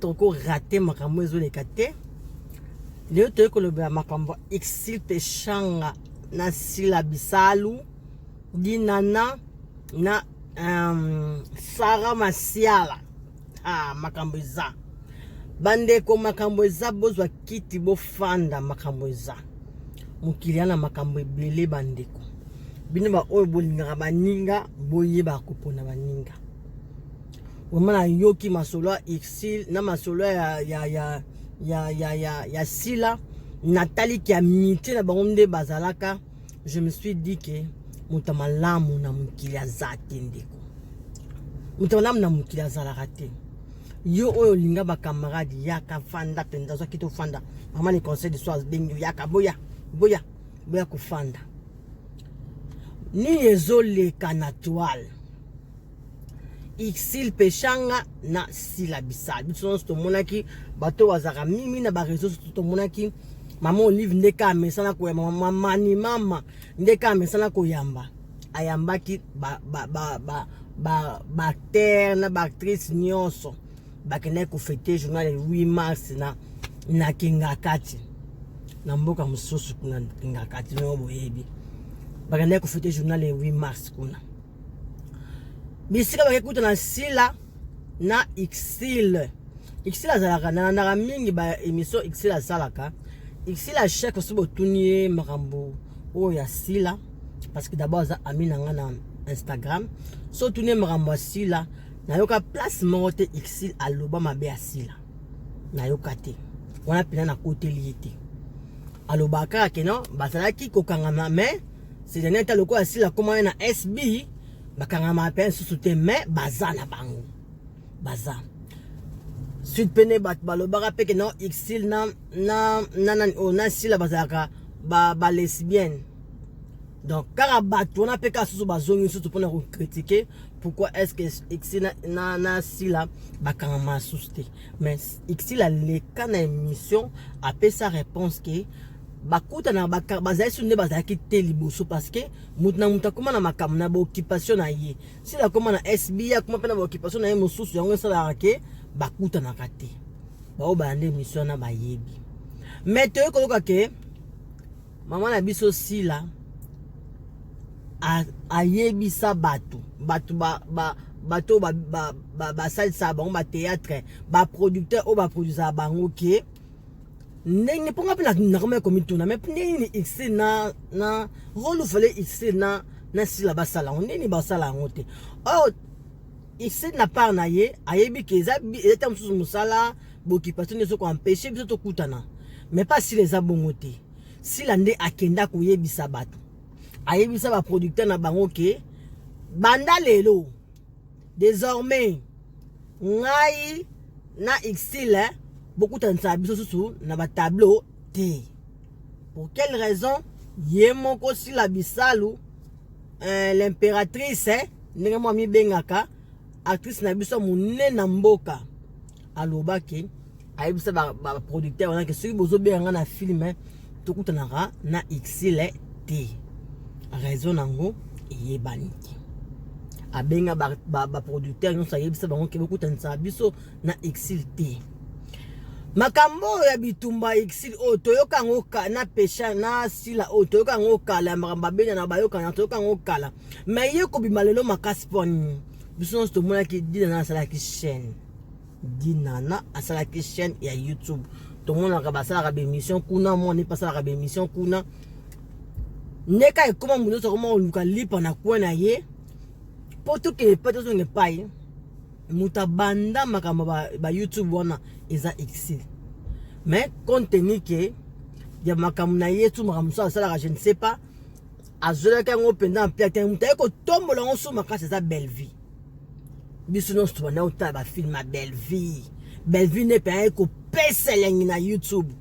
toko rate makambo ezoleka te leo toyei kolobela makambo exilpe shanga na sila bisalu dinana na um, sara masiala ah, makambo eza bandeko makambo eza bozwa kiti bofanda makambo eza mokili ya na makambo ebele bandeko bino baoyo bolingaka baninga boyeba kopona baninga Vraiment na yoki masolo ya Ursule na masolo ya ya ya ya ya ya, ya Sila natali ki amitié na bango nde bazalaka je me suis dit que moto malamu na mokili aza te ndeko moto malamu na mokili azalaka te yo oyo olinga bacamarade yaka fanda mpenza ozwaki tofanda mama le conseil de soir bengi oyaka boya boya boya kofanda nini ezoleka na toile Ixil Peshanga na Sila Bisal. Biso nyonso tomonaki bato bazalaka mimi na ba réseaux sociaux tomonaki mama Olive ndeke amesana koyamba mama mani mama ndeke amesana koyamba ayambaki ba ba ba ba ba acteur na ba actrice nyonso bakendaki kofete journal 8 mars na na Kingakati na mboka mosusu kuna Kingakati ndenge boyebi bakendaki kofete journal 8 mars kuna bisika bake kuta na sila na exile exile azalaka nalandaka mingi ba émission exile asalaka exile achèque osi botuni ye makambo oyo ya sila parce que d'abord aza ami na nga na instagram so otuni ye makambo ya sila nayoka place moko te exile aloba mabe ya sila nayoka te wana mpena nakoteli ye te alobaka kaka keno bazalaki kokangama mais Sezania ata lokola asila komana na SB bakangama mpe nsusu te mais baza na bango baza sud mpe nde bato balobaka mpe ke na exil na na na na, oh, na sila bazalaka ba, ba lesbienne donc kaka bato wana mpe kaka susu bazongi nsusu mpona kokritike pourquoi est ce que exi na, na, na sila bakangama susu te mais exi aleka na émission apesa réponse ke bakutana bazali su nde bazalaki te liboso parce que moto na moto akoma na makambo na baoccupation na ye sila akoma na sbi akoma mpe na baoccupation na ye mosusu yango esalaka ke bakutanaka te baoyo balanda emission wana bayebi me toyei koyoka ke mama na biso sila ayebisa bato bato bato basalisaka bango bateatre baproducteur oyo baproduisaka bango ke ndenge mpo nga mpe nakomaki komituna me ndenge nini ixe na na role fale ixe na na sila basala yango ndenge nini basala yango te or ixe na part na ye ayebi ke eza eta mosusu mosala bokipation nyonso koampeshe biso tokutana me mpa sila eza bongo te sila nde akenda koyebisa bato ayebisa baproducteur na bango ke banda lelo Desormais, ngai na Xile eh, bokutanisa biso susu na ba tableau te. Pour quelle raison? Ye moko Sila Bisalu, euh, l'impératrice, eh, ndenge mwa mibengaka, actrice na biso monene na mboka. aloba ke ayebisa ba, ba producteur wana ke soki bozobenga nga na film eh, tokutanaka na exile te raison nango eyebani te abenga baproducteur ba, ba nyonso ayebisa bango ke bokutanisa biso na exile te makambo oyo ya bitumba exile oyo toyoka yango na pesha na sila oyo toyoka yango kala ya makambo babenana bayokana toyoka yango kala mai ye kobima lelo makasi mpo nini biso nyonso tomonaki dina na asalaki chaine dinana asalaki chaîne ya youtube tomonaka basalaka baémission kuna mwana epe asalaka baémission kuna nde ka ekoma moto nyonso akoma koluka lipa na kwe na ye mpo tokende epai tozonga epai moto abanda makambo ba, ba youtube wana eza exil mais compte tenu ke ya makambo na ye tu makambo mosusu asalaka je ne sais pas azwelaki yango mpenza na mpe atenge moto aye kotombola yango so makasi eza bellevie biso nyonso tobanda kotala bafilme ya bellevie bellevie nde mpe aye kopesa elengi na youtube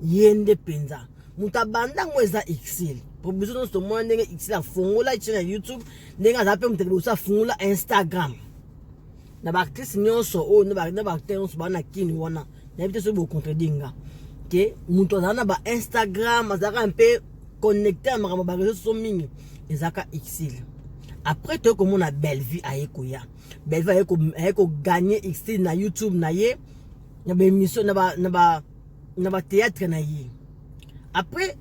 ye nde mpenza moto abanda yango eza exile po biso nyonso tomona ndenge exile afongola chaine ya youtube ndenge azala mpe moto liboso afongola instagram na baartiste nyonso oyo na baacteur nyonso baa na kini wana nayebi te soki bocontredire nga te moto azala na bainstagram azalaka mpe connecte ya makambo bareseau soso mingi ezalaka exile après toye komona bellevue aye koya bellevue aye kogagne exile na youtube na ye na baémission na batéâtre na ye après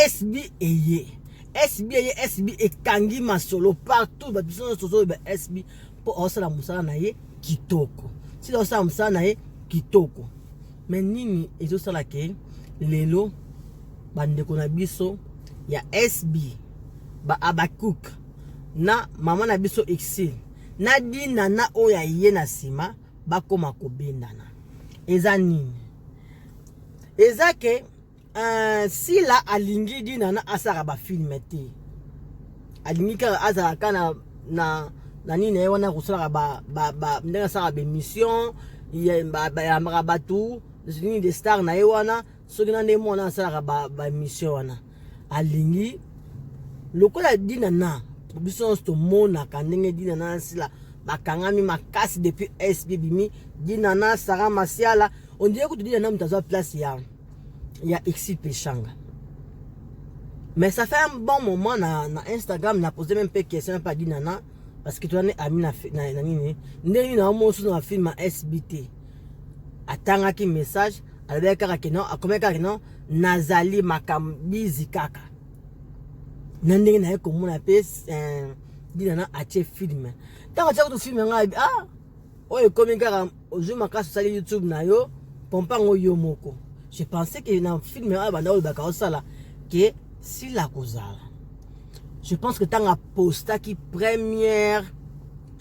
sb eye sb eye sb ekangi masolo partout bato biso nyonso tozoyeba sb mpo aosala mosala na ye kitoko sila osala mosala na ye kitoko me nini ezosala ke lelo bandeko na biso ya sb ba abakuk na mama na biso exil na dina na oyo ya ye na nsima bakoma kobendana eza nini eza ke Euh, sila alingi dinana asaka bafilme te alingi kaka azala ka na, na, na nini na ye wana kosalaka ba, ba, ba, ndenge asaka baémission bayambaka bato nini de star na ye wana soki na ndenge mwana asalaka baémission ba wana alingi lokola dinana biso nyonso tomonaka ndenge dinana na sila bakangami makasi depuis sb bimi dinana sara masiala ondire kutu dinana moto azwa place ya ya Exil Peshanga. Mais ça fait un bon moment na, na Instagram, na posé même pas question, pas dit nana, parce que tu en es ami na, na, na nini. Ndenge na omo sous na film à SBT. Atanga ki message, alobaki kaka ke non, akomaki kaka ke non, nazali makambizi kaka. Na ndenge na ye komona pe, eh, dit nana atie film. Tango atia kutu film yango, ah, oyo ekomi kaka ozwi makasi osali youtube na yo pompa yango yo moko je pensais que na film oyo banda olobaka osala ke sila kozala je pense que ntango apostaki première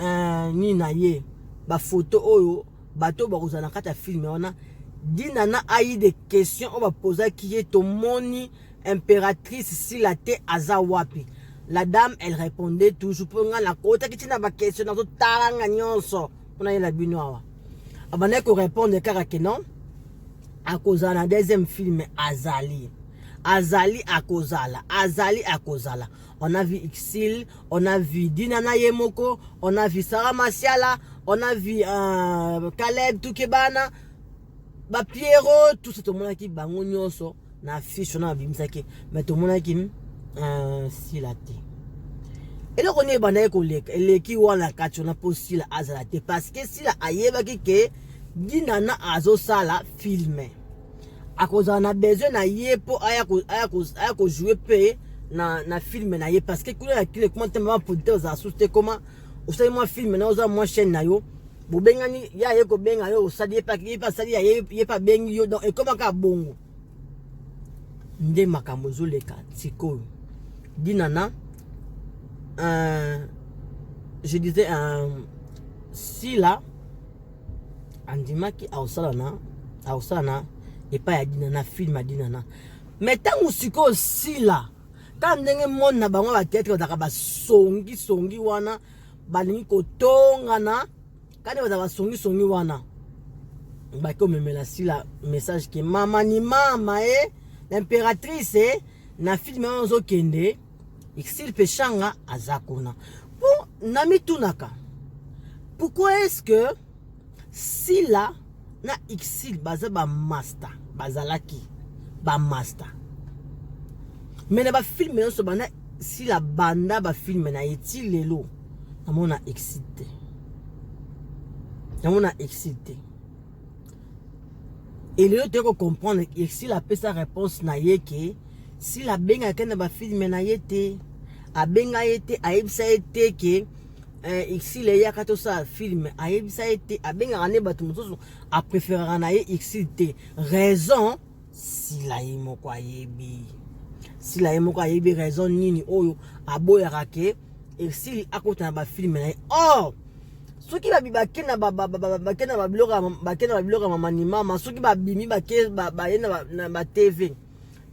euh, nini na ye bafoto oyo bato oyo bakozala na kati ya filme wana dina na ayi de question oyo bapozaki ye tomoni imperatrice sila te aza wapi la dame elle répondait toujours mpo ngai nakotaki ntina bakestion nazotalanga nyonso mpo nayela bino awa abandaki korépondre kaka ke non akozala na deuxième film azali azali akozala azali akozala on a vu Ixil, on a vu Dina Nayemoko, on a vu Sarah Masiala, on a vu euh, Caleb Tukebana, ba Pierrot tout ça tomonaki bango nyonso na affiche wana babimisaki mais tomonaki euh, sila te eloko nini ebandaki koleka eleki wana kati wana mpo sila azala te parce que sila ayebaki ke dinana azosala filme akozala na besoin na ye mpo aya kojoue mpe na, na filme na ye parce que kuna na kile kuma te mama producteur ozala susu te koma osali mwa filme na oza mwa chaîne na yo bobengani ye aye kobenga yo osali ye ye asali ya ye mpe abengi yo donc ekoma kaka bongo nde makambo ezoleka sikoyo dinana euh, je disais euh, sila andimaki akosala na akosala na epai ya dinana film ya dinana me ntango sikoyo sila ta ndenge mone na bango ya bateatre bazalaka basongisongi wana balingi kotongana kani baza basongisongi wana baki omemela sila message ke mama ni mama e eh, l'impératrice e eh, na filme wana ozokende exil mpe shanga aza kuna mpo namitunaka pourquoi est ce que Sila na Ursule baza ba masta bazalaki ba masta mais na ba film nionso banda Sila banda ba film na ye ti lelo namona Ursule te namona Ursule te et lelo toye ko comprendre Ursule apesa réponse na ye ke Sila abengaka na ba film na ye te abenga ye te ayebisa ye te ke eh, exile eyaka tosala filme ayebisa ye te abengaka nde bato mosusu apréféraka na ye exile te raison sila ye moko ayebi sila ye moko ayebi raison nini oyo aboyaka ke exile akota na bafilme na ye or oh! soki bake na babiloko ya mamanimama soki babimi baye na batv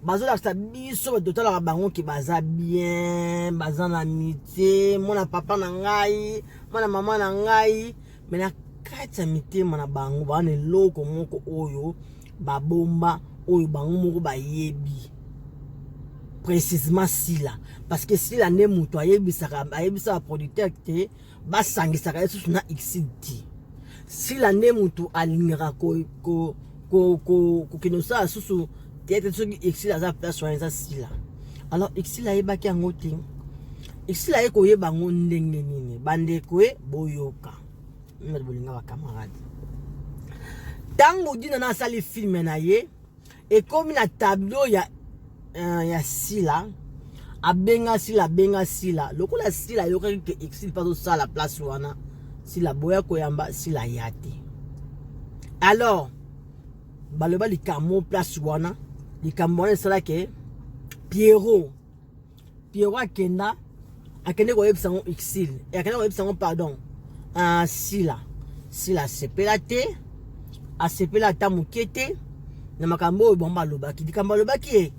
bazolakisa biso bato totalaka bango ke baza bien baza na mitie mwana papa na ngai mwana mama na ngai me na kati ya mitema na bango baa na eloko moko oyo babomba oyo bango moko bayebi précisement sila parce que sila nde moto ayebisaka ayebisaka producteur te basangisaka ye susu na xidi sila nde motu alingaka kokende kosala susu teyete soki exil aza place wana eza sila alors exil ayebaki yango te exil aye koyeba yango ndenge nini bandeko e boyoka bolinga bakamarade ntango dina na asali filme na ye ekomi na tableau ya uh, ya sila abenga sila abenga sila lokola sila ayokaki ke exil mpe azosala place wana sila boya koyamba sila ya te alors baloba likambo place wana likambo wana esalaki pierrot Pierrot akenda akende koyebisa yango exil akenda koyebisa yango pardon uh, sila sila asepela te asepela ata moke te na makambo oyo bango balobaki likambo alobaki ye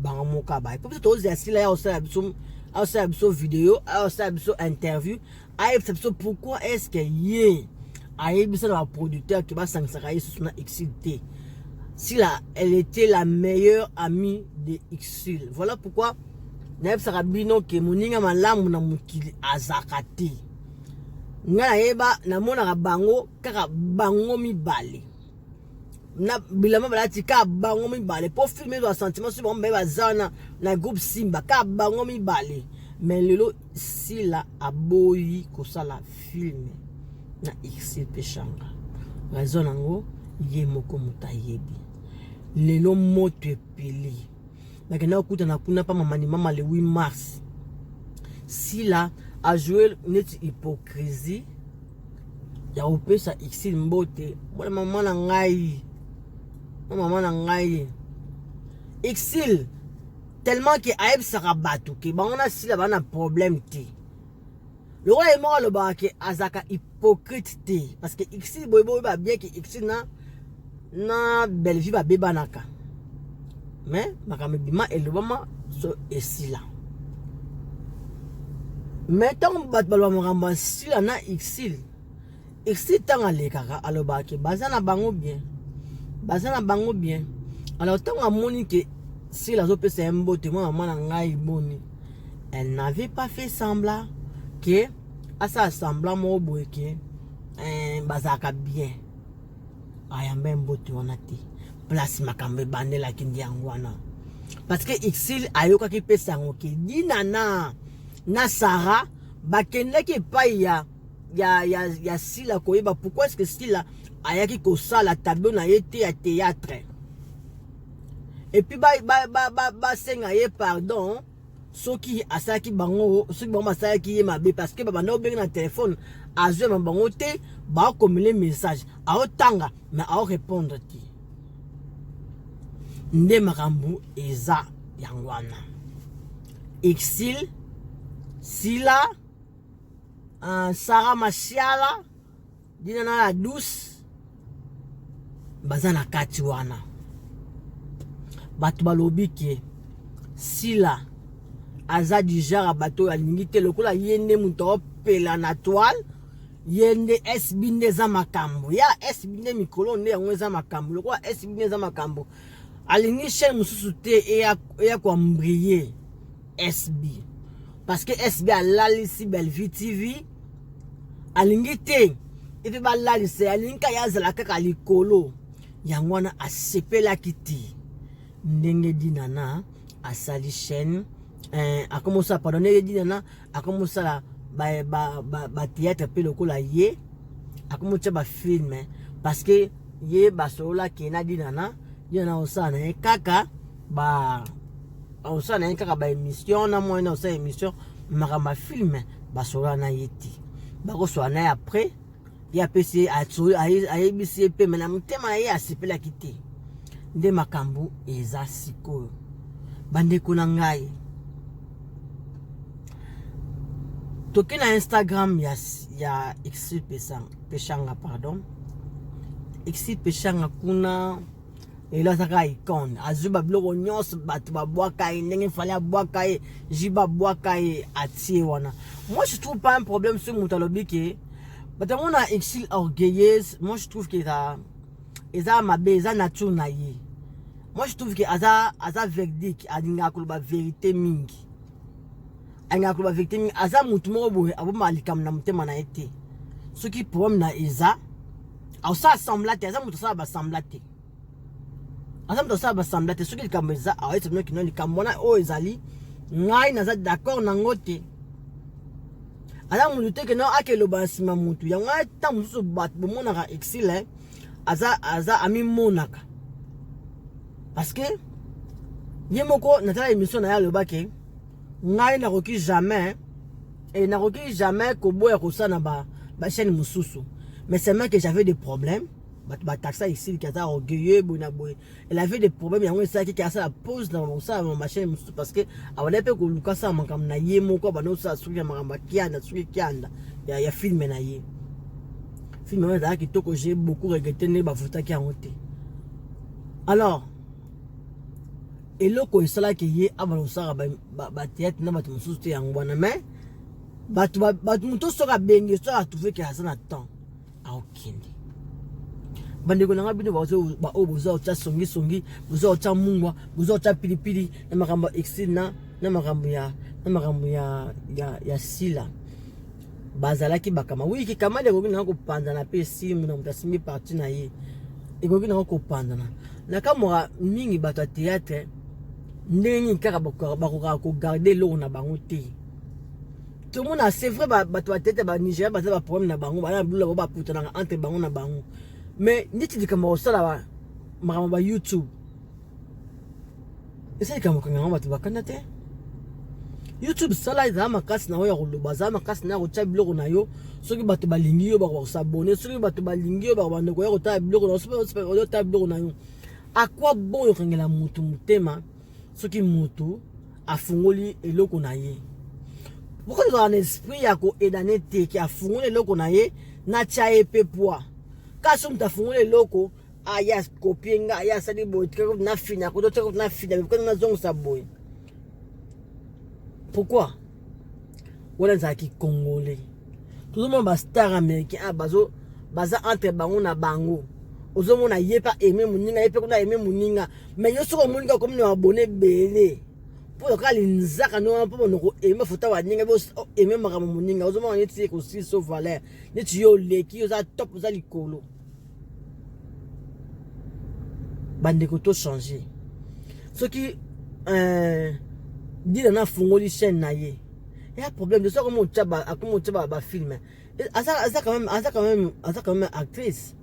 bango moka baye mpo biso tozela sila ya kosala biso asala biso video asala biso interview ayebisa biso pourquoi est ce que ye ayebisa na baproducteur ke basangisaka ye susu na exil te sila elle était la meilleure amie de exil voilà pourquoi nayebisaka bino ke moninga malamu na mokili azaka te ngai nayeba namonaka bango kaka bango mibale na bilamba balati ka bango mibale mpo filme ezwa sentiment soki bango mibale baza wana na groupe simba ka bango mibale me lelo sila aboyi kosala filme na ixil mpe shanga raison yango ye moko moto ayebi lelo moto epeli bakenda kokutana kuna pa mamanimama le 8 mars sila ajoue neti hypocrisie ya kopesa exil mbote bona mama na ngai na mama na ngai exil tellement ke ayebisaka bato ke bango na sila baa na problème te lokola ye moko alobaka ke azalaka hypocrite te parce que ixi boye boyeba bien ke ixi na na bellevue babebanaka mais makambo ebima elobama so esila mais ntango bato baloba makambo ya sila na ixile esi ntango alekaka alobaka ke baza na bango bien baza na bango bien alors ntango amoni ke sila azopesa ye mbote mwa mama na ngai boni elle n'avait pas fait semblant ke asala semblant moko boye ke eh, bazalaka bien ayamba ye mbote wana te place makambo ebandelaki ndi yango wana parce que exil ayokaki mpe sango ke dinana na sara bakendaki epai ya ya, ya, ya sila koyeba pourquoi est ce que sila ayaki kosala tableau na ye te ya théâtre et puis basenga ba, ba, ba, ba ye pardon soki asalaki bango soki bango basalaki ye mabe parce que babanda obengi na telefone azwema bango te baokomele message aotanga me aorépondre te nde makambo eza yango wana exil sila uh, Sarah Masiala dina na la douce baza na kati wana bato balobi ke sila aza du genre ya bato oyo alingi te lokola ye nde moto aopela na toile ye nde sb nde eza makambo ya sb nde mikolo nde yango eza makambo lokola sb nde eza makambo alingi chaine mosusu te eya koambriye SB parce que SB alalisi Bellevue TV alingi te epe balalisa ye alingi kaka ye azala kaka likolo yango wana asepelaki te ndenge dinana asali chaîne eh, akomi osala pardon ndenge dinana akomi osala batheatre ba, ba, ba mpe lokola ye akomi otya bafilme parce que ye basololaki ye na dinana dinana osala na ye kaka ba osala na ye kaka ba émission na moyen na osala émission makambo ya filme basola na ye te bakosola na ye après ye apesi ayebisi ye mpe me na motema na ye asepelaki te nde makambo eza sikoyo bandeko na ngai toke na instagram ya, ya exil peshanga pardon exil peshanga kuna lelo aza kaka icone azwi babiloko nyonso bato babwaka ye ndenge fale abwaka ye jibe abwaka ye atie wana moi je trouve pas un problème soki moto alobi ke bato yango na exil orgueilleuse moi je trouve ke eza eza mabe eza nature na ye moi je trouve ke aza aza verdique alingaka koloba verité mingi alingaka koloba verité mingi aza motu moko boye abomaka likambo na motema na ye te soki problème na eza asala sembla te aza moto asala basembla te aza moto asala basambla te soki likambo eza aoyesa bino kino likambo wana oyo ezali ngai naza d'accord nango te aza motu te keno ake eloba na nsima motu yango wana ntango mosusu bato bomonaka exile eh, aza aza amimonaka parce que ye moko natala émission na ye alobaki ngai nakoki jamais e nakoki jamais koboya kosala na bachaîne ba mosusu mais seulement que j'avais des problèmes bato bataxa esiliki aza orgueilleux boye na boye elle avait des problèmes yango esalaki ke asala pose na kosala na machine mosusu parce que abandaki mpe koluka asala makambo na ye moko abanda kosala soki ya makambo ya kianda soki kianda ya, ya filme na ye filme yango ezalaka kitoko je beaucoup regrete ndenge bavotaki yango te alors eloko esalaki ye abanda kosala batheatre na bato mosusu te yango wana mais bato moto soki abengi soki atuveke aza na temps aokende bandeko na ngai bino baoyo boza otya songisongi boza otya mungwa boza otya pilipili na makambo ya exil na na makambo ya na makambo ya, ya, ya sila bazalaki bakama wi kikamali ekoki nanga kopanzana mpe esimu na moto asimbi parti na ye ekoki nanga kopanzana nakamwaka mingi bato ya théâtre ndenge nini kaka bakokaka kogarde eloko na bango te tomona c'est vrai bato batete ba nigeria baza ba problème na bango bana bilula bo bakutanaka entre bango na bango mais ndeti likambo kosala makambo ba youtube eza likambo kanga yango bato bakanda te youtube sala ezala makasi na yo ya koloba azala makasi na ya kotya biloko na yo soki bato balingi yo bakoka kosabone soki bato balingi yo bako bandeko ya kotala biloko na yo soki otala biloko na yo akwa bon yokangela motu motema soki mutu afungoli eloko na ye pourquoi tozala na esprit ya koedane te ke afungoli eloko na ye natya ye mpe pwa kasi moto afungoli eloko aya ah, kopie nga aya asali boye tikakoti nafina koto tikakoti nafina mekokani nazongisa boye pourquoi wana ezala kikongole tozomona bastar américain a ah, bazo baza entre bango na bango ozomona ye mpe aime moninga ye mpe kuna aime moninga mai yo soki omoninga okomi na babone ebele mpo oyoka linzaka ndenge wana mpo monoko eme fota waninga eme makambo moninga ozomona neti ekosilisa valeur neti yo oleki oza top oza likolo bandeko to changer soki euh, dina na afungoli chaîne na ye ya problème de soko motya ba akomotya ba ba film aza aza quand même aza quand même aza quand même actrice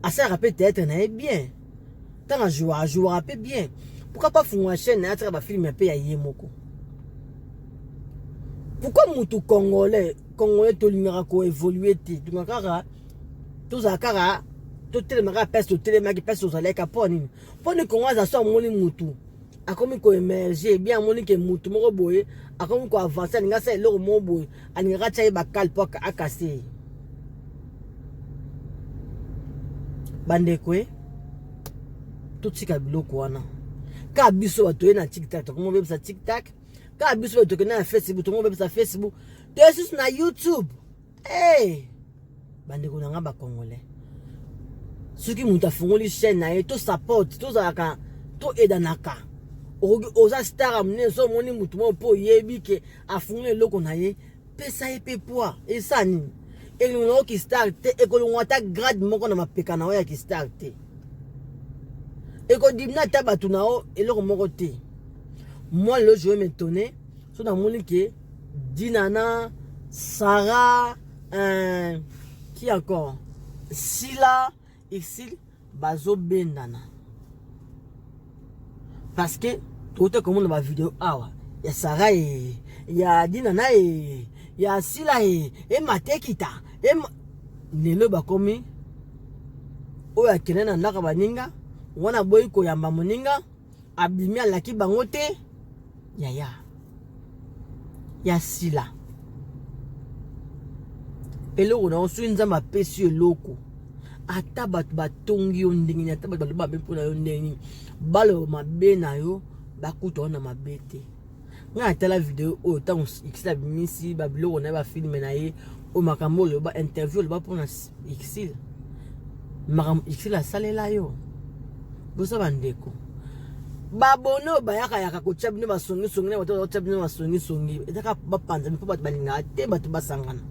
asalaka mpe théâtre na ye bien ntango ajouaka ajouaka mpe bien pourquoi pas fungola chaîne na ye atika ba film mpe ya ye moko pourquoi mutu congolais congolais tolingaka ko évoluer te tolingaka kaka tozala kaka totelema kaka place totelemaki place tozalaki kaka mpo nini mpo ni kongo aza so amoni mutu akomi koemerge bien amoni ke mutu moko boye akomi koavance alingi asala eloko moko boye alingaka atya ye bakale mpo akase ye bandeko e totika biloko wana kaka biso bato toye na tiktak tokomi obebisa tiktak kaka biso bato tokende na facebook tokomi obebisa facebook toye susu na youtube Hey! bandeko na ngai bacongolais soki moto afungoli chaîne na ye to supporte tozalaka to edanaka oza star ya monene so omoni motu moko mpo oyebi ke afungoli eloko na ye pesa ye mpe poi esa nini elongo na yo kistar te ekolongwa ata grade moko na mapeka na yo ya kistar te ekodimina ata bato na yo eloko moko te moi lelo je vais me tonner so namoni ke Dinana, Sarah, euh, qui encore Sila, ici, bazo bendana. Parce que, tout le monde va vidéo awa. Ya Sarah et, ya Dinana et, ya Sila et, et Matekita. Et, lelo bakomi oyo akende na ndako baninga wana boyi koyamba moninga abimi alaki bango te yaya ya sila eloko na yo soki nzambe apesi yo eloko ata bato batongi yo ndenge nini ata bato baloba mabe mpo na yo ndenge nini baloba mabe na yo bakuta yo na mabe te nga natala video oyo ntango exil abimisi babiloko na ye bafilme na ye oyo makambo oloba interview oloba mpona exil makambo exil asalela yo boza bandeko babone oyo bayakayaka kotya bino basongisongi na bato batya bino basongisongi ezaka bapanzami mpo bato balingaka te bato basangana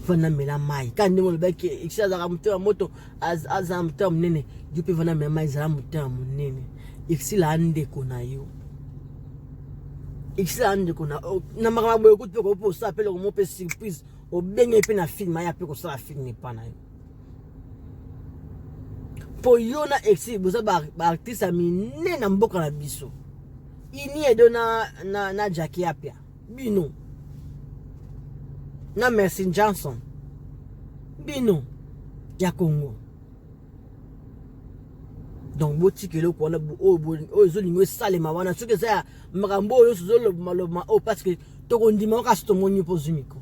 fana mela mai kaka ndenge olobaki exil azalaka moto ya moto aza moto ya monene yo mpe vana mema ezala moto ya monene exila andeko na yo exila andeko na oh, na makambo boye okuti mpe koyope osala mpe lokomo mpe surprise obenge mpe na filme aya mpe kosala filme epa na yo mpo yo na exil boza baartiste ya minene na mboka na biso iniedo na, na, na jaki apia bino na Mercy Johnson bino ya Congo donc botika eloko wana oyo ezolinga esalema wana soki eza ya makambo oyo nyonso ezolobamalobama oyo oh, parceke tokondima kasi tomoni mpo ozwi miko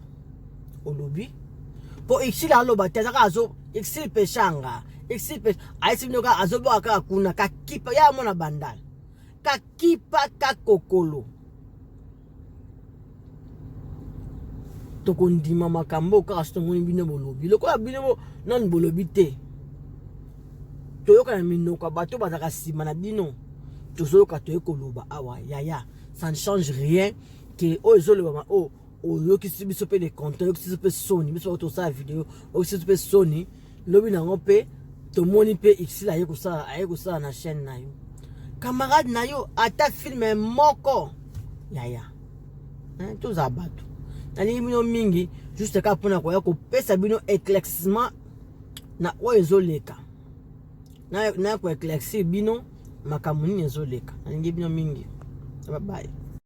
olobi mpo exile aloba te azaka azo exile peshanga exile ayesi bino kaka azoboka kaka kuna kakipa ya mwana bandala kakipa kakokolo tokondima makambo kaka soki tomoni bino bolobi lokola bino nani bolobi te toyoka na minoko ya bato bazalaka nsima na bino tozoyoka toye koloba awa yaya ça ne change rien ke oyo ezolobama oyo oh, oyokisi biso mpe le content oyokisi biso mpe soni biso tosala video oyokisi biso mpe soni lobi na yango mpe tomoni mpe ixil aye kosala aye kosala na chaîne na yo camarade na yo ata filme moko yaya hein, tozala bato nalingi bino mingi juste kaka mpona koya kopesa bino éclaircissement na oyo ezoleka na koeclaircir bino makambo nini ezoleka nalingi bino mingi babaye